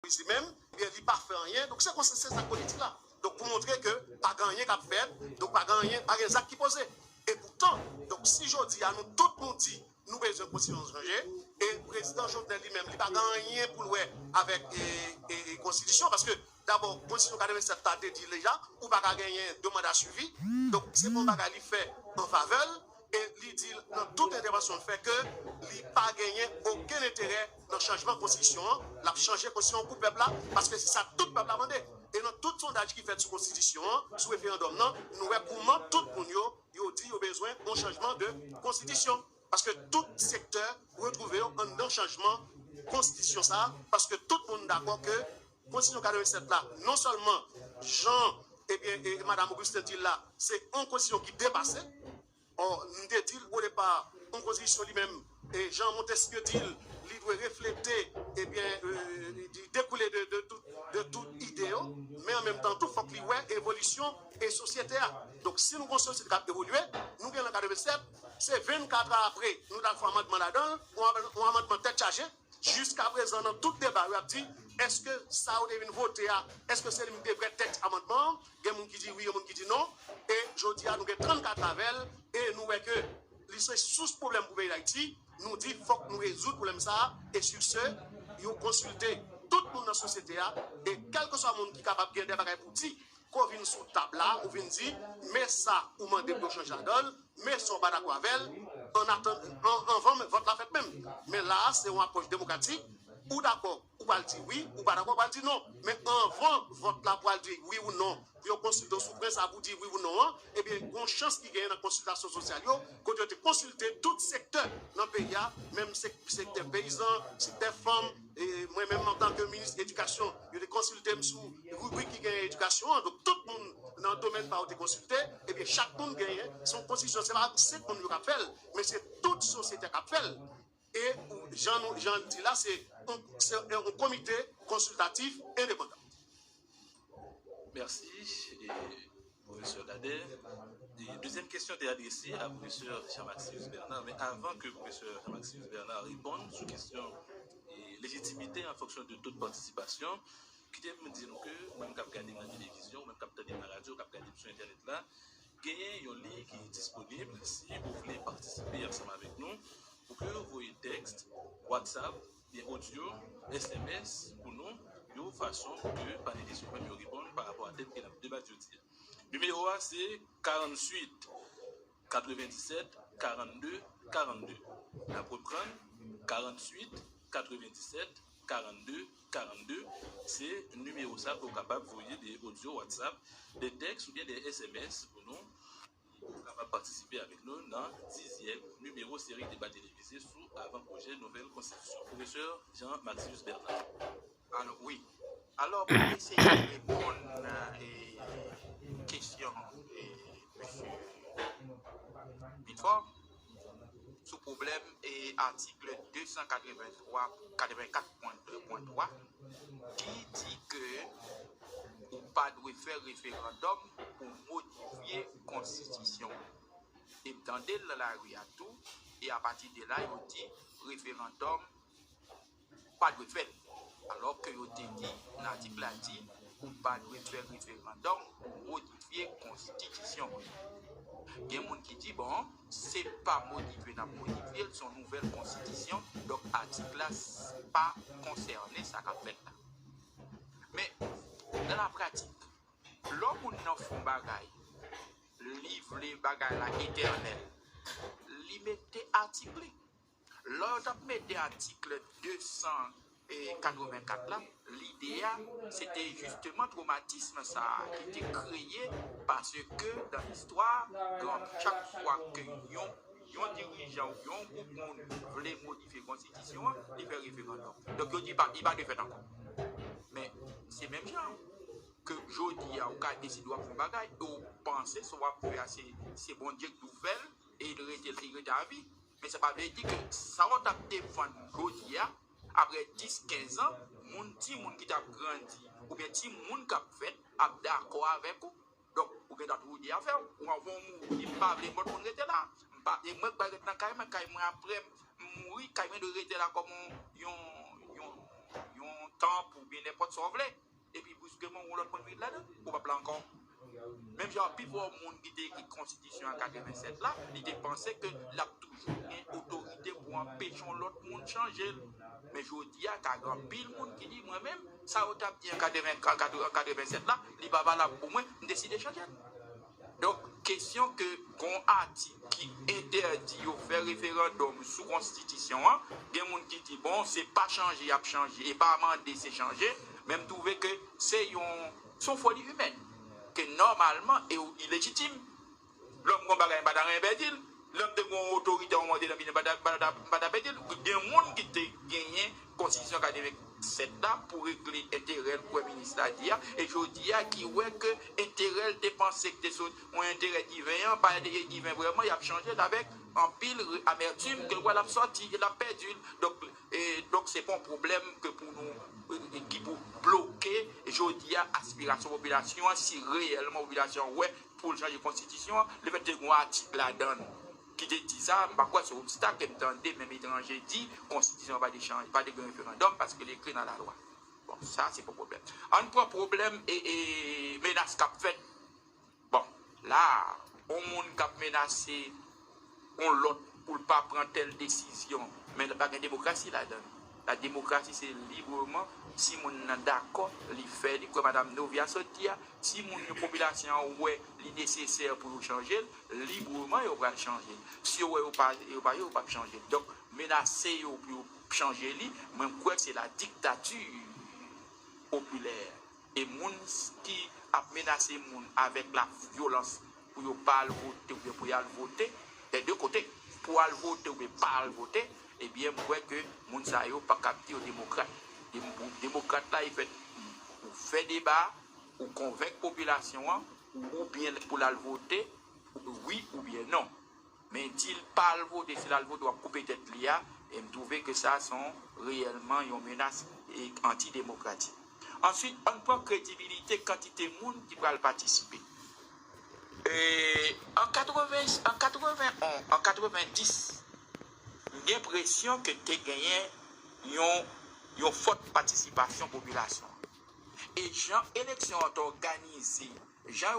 Moise li menm ebyen li pa fè anyen donk se konsa se sa politik la donk pou montre ke pa gen anyen kap fèt donk pa gen anyen pa gen zak ki poze epoutan donk si jodi a nou tout nou di nou bezwen konstitisyon chanje e prezidan Jovenel li menm li pa gen anyen poul wè avèk ee konstitisyon paske dabò konstitisyon 87 la te di deja ou paka genyen 2 manda swivi donk se pa yon bagay li fè an favèl. e li di nan tout entèvansyon l fè ke li pa genyen okenn enterè nan chanjman konstitisyon an, l ap chanje konstitisyon an pou pèp la paske se sa tout pèp la mande. E nan tout sondaj ki fèt sou konstitisyon an, sou referandòm nan, nou wè kouman tout moun yo, yo di yo bezwen yon chanjman de konstitisyon paske tout sektè retwouve yo anndan chanjman konstitisyon sa paske tout moun dakò ke Konsiy yo gade resèt la non sèlman jan ebyen madam Augustin dil la se yon konsiy ki depase or m te dil o depa yon konsiy li menm jan Montesquieu dil li dwe reflete ebyen li dekoule de tout ide yo men an menm tan tou fok li wè evolisyon e sosyete a donk si nou gon sosyete kap evolye nou genlè gade resèt se 24 a apre nou tal fè amandman ladanl yon amandman tèt chaje. Jiskaprezan nan tout deba yo ap di èske sa yo te vin vote a èske se li menm ki te vrè tèks amandman an, gen moun ki di wi gen moun ki di non e jodi a nou gen 34 avè l e nou wè ke li se sous pwoblèm pou peyi Dayiti, nou di fòk nou rezoud pwoblèm sa e si se yo konsilte tout moun nan sosyete a e kèlkeswa moun ki kapab gen de bagay pou di Kò vin sou tab la, ou vin di, men sa ou mande pou yo chanje ladan l, men sa ou pa dakò avè l, anvan menm vòt la fèt menm. Men la a, se yon apwòch demokratik, ou dakò, ou pral di wi, ou pa dakò, ou pral di non. Men anvan vòt la pou al di wi ou non, pou yo konsilte w sou pwen sa a pou w di wi ou non an, ebyen gen yon chans ki genyen nan konsiltasyon sosyal yo, kote yo te konsilte tout sektè nan peyi a, menm sektè peyizan, sektè fanm, E mwen menm antanke minis edikasyon, yo te konsilte m sou ribrik ki genyen edikasyon an. Donk tout moun nan domèn pa yo te konsilte. Ebyen chak moun genyen, se yon konstitisyon, se pa 5 moun yo k ap fè l, men se tout sosyete a k ap fè l. E jan l di la, se yon komite konsiltatif endepandan. Merci professeur Dadè. Dezyèm kesyon te adrese a professeur Jean Maximus Bernard men avan ke professeur Jean Maximus Bernard reponn sou kesyon lejitimite an fonksyon de to de patisipasyon, kite m di nou ke ou menm kap gade m nan televizyon, ou menm kap tande m nan radyo, kap gade m sou entènèt la, genyen yon liy ki disponib si ou vle patisipe ansanm avèk nou pou ke ou voye tèks, whatsapp, Gen odyo, sms pou nou yon fason pou ke panelis yo menm yo reponn pa rapò a tèm ke n ap debat jodi a. Nimewo a se 48 97 42 42. N ap reprann, 48 97 42 42, se nimewo sa ke ou kapab voye de odyo, whatsapp, de tèks oubyen de sms pou nou. Ou kapab patisipe avèk nou nan dizyèm nimewo seri deba televize sou avan pwojè nouvèl konstitisyon Pwofesè Jean Maxius Bernard. Alo wi. Alo pou m eseye reponn kesyon Mesye Bifor. sou pwoblèm atik 283.84.2.3 ki di ke ou pa dwe fè referandòm pou modifye konstitisyon. E m tande l nan lari a tou, e apati de la yo di referandòm. pa dwe fèt, alò ke yo te di nan atik la di ou pa dwe fè referandòm pou modifye konstitisyon an. Gen moun ki di bon, se pa modifye nap modifye l, se yon nouvèl konstitisyon, donk atik la pa konsène sa kap fèt la. Men, nan la pratik, lò moun nan fè yon bagay, li vle bagay la etènèl, li mete atik li. Lò yo t ap mete atikl 284 la, lide a se te jisteman twomatism sa a ki te kreye paske dan listwa, chak fwa ke yon dirijan ou byen yon gwoup moun vle modifye konstitisyon an, li fè referandòm. Donk yo di li pa dwe fèt ankò. Men, se menm jan an, ke jodi a ou ka deside w ap fè yon bagay e ou panse sa w ap fè a se Bondye k di w fè l e li rete avi. Men sa pa vle di ke sa ou tap defann jodi a, aprè 10, 15 an, moun, timoun ki tap grandi, oubyen timoun kap fèt ap dakò avèk ou. Donk, ou gendwa twou di afè ou. Ou anvan ou mouri, m pa vle m konn rete la. M pa, e mwen k pral ret nan kay mwen, kay mwen aprè m mouri, kay mwen dwe rete la kòm yon, yon, yon tanp oubyen nenpòt sa ou vle. Epi brusquement yon lòt moun vin ladan, koupab la ankò. Menm jan an pifò moun ki te ekri konstitisyon an 87 la, li te panse ke l ap toujou gen otorite pou anpeche yon lòt moun chanje l. Men jodi a ka gen anpil moun ki di, mwen menm, sa yo t ap di an 87 la, li pa valab pou mwen, m deside chanje l. Donk, kesyon ke gen yon atik ki entèdi yo fè referandòm sou konstitisyon an, gen moun ki di bon se pa chanje y ap chanje e pa mande se chanje, men m twouve ke se yon se yon foli imèn ke nòmalman e ou ilejitim. Lò m gen yon bagay m pa ta renmen pèdi l, lè m te gen yon otoritè yon mòde nan men m m pa ta pèdi l. Gen moun ki te genyen Konstitisyon 87 la pou regle enterè l kwè minis la di a, e jodi a ki wè ke enterè l te panse k te sou yon enterè diven an, pa enterè diven vrèman, y ap chanje l avèk anpil amètim ke l wè l ap sòti e l ap pèdi l. Donk, donk se pa yon pwoblèm ke pou nou, ki pou bloke jodi a aspirasyon popilasyon an si reyèlman popilasyon an wè pou l chanje konstitisyon an, lefètke gen yon atik ladan l ki te di sa, m pa kwè se obstak ke m tande menm etranje di, konstitisyon an pa de chanje, pa de gen referandòm paske li ekri nan lalwa. Bon, sa se pou pwoblèm. An n pran pwoblèm e, e menas k ap fèt. Bon, la a, yon moun k ap menase yon lòt pou l pa pran tèl desizyon, men pa gen demokrasi ladan l. La demokrasi se libreman si moun nan dakò li fè li kwè madam Novia sot di a, si moun yo popilasyon an wè li nesesè pou yo chanje l, libreman yo pral chanje l. Si yo wè yo pa yo pa yo pap chanje l. Donk menase yo pou yo chanje li, mwen kwè se la diktati popilè. E moun ki ap menase moun avèk la vyolans pou yo pa al vote oubyen pou y al vote, dè de kote, pou al vote oubyen pa al vote, ebyen m kwè ke moun sa yo pa kab di yo demokrat. Demokrat la e fèt pou fè deba, pou konvenk popilasyon an oubyen pou l al vote wi oubyen non. Men dil pal vote si lal vote wap koupe tèt li a em trouve ke sa son reyèlman yon menas anti demokratik answit ann pran kredibilite kantite moun ki pral patisipe an 80 an 80 on an 90 m gen presyon ke te genyen yon yon fòt patisipasyon popilasyon e jan eleksyon an t òganize jan.